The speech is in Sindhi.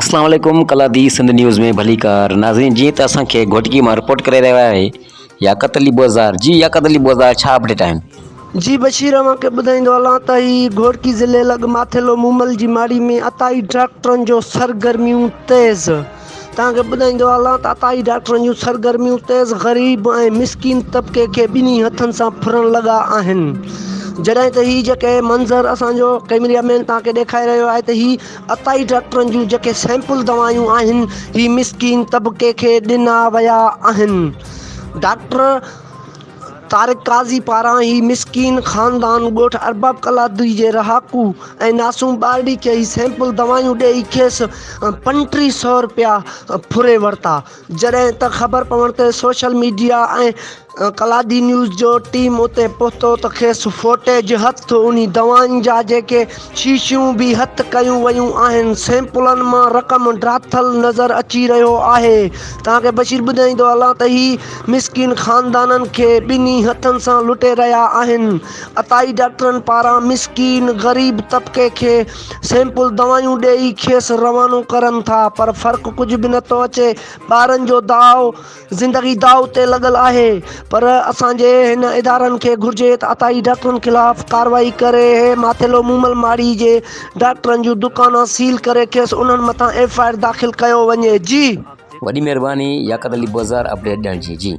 اسلام عليڪم ڪلادي سنڌ نيوز ۾ ڀليڪار ناظرين جيئن ته اسان کي گهوٽڪي مان رپورٽ ڪري رهيو آهي ياقت علي بوزدار جي ياقت علي بوزدار ڇا اپڊيٽ آهن جي بشير اوهان کي ٻڌائيندو هلان ته هي گهوٽڪي ضلعي لڳ ماٿيلو مومل جي ماڙي ۾ عطائي ڊاڪٽرن جو سرگرميون تيز توهان کي ٻڌائيندو هلان ته عطائي ڊاڪٽرن جون سرگرميون تيز غريب ۽ مسڪين طبقي کي ٻنهي هٿن سان ڦرڻ لڳا آهن جڏهن ته هي جيڪي منظر اسان جو ڪيمريا مين توهان کي ڏيکاري رهيو آهي ته هي عطائي ڊاڪٽرن جون جيڪي سيمپل دوائون آهن هي مسڪين طبقي کي ڏنا ويا آهن ڊاڪٽر طارق قاضي پاران هي مسڪين خاندان ڳوٺ ارباب ڪلادري جي رهاڪو ۽ ناسوم ٻارڙي کي هي سيمپل دوائون ڏئي کيس پنٽيهه سئو رپيا ڦري ورتا جڏهن ته خبر پوڻ تي سوشل ميڊيا ۽ ڪلادي نيوز جو ٽيم اتي پهتو ته کيس فوٽيج هٿ انهي دوائن جا جيڪي شيشيون به هٿ ڪيون ويون آهن سيمپلن مان رقم ڊاٿل نظر اچي رهيو آهي توهان کي بشير ٻڌائيندو هلان ته هي مسڪين خاندانن کي ٻنهي هٿن سان لٽي رهيا آهن عطائي ڊاڪٽرن پاران مسڪين غريب طبقي کي سيمپل دوائون ڏيئي کيس روانو ڪرن ٿا پر فرق ڪجهه به نٿو اچي ٻارن جو داء زندگي داء تي لڳل آهي پر اسان جي هن ادارن کي گهرجي ته عطائي ڊاڪٽرن خلاف ڪارروائي ڪري هي ماٿيلو مومل ماڙي جي ڊاڪٽرن جون دڪانا سيل ڪري کيس انهن مٿان ايف آء آر داخل ڪيو وڃي جي وڏي مهرباني ياقت علي بوزار اپڊيٽ ڏيڻ جي جي.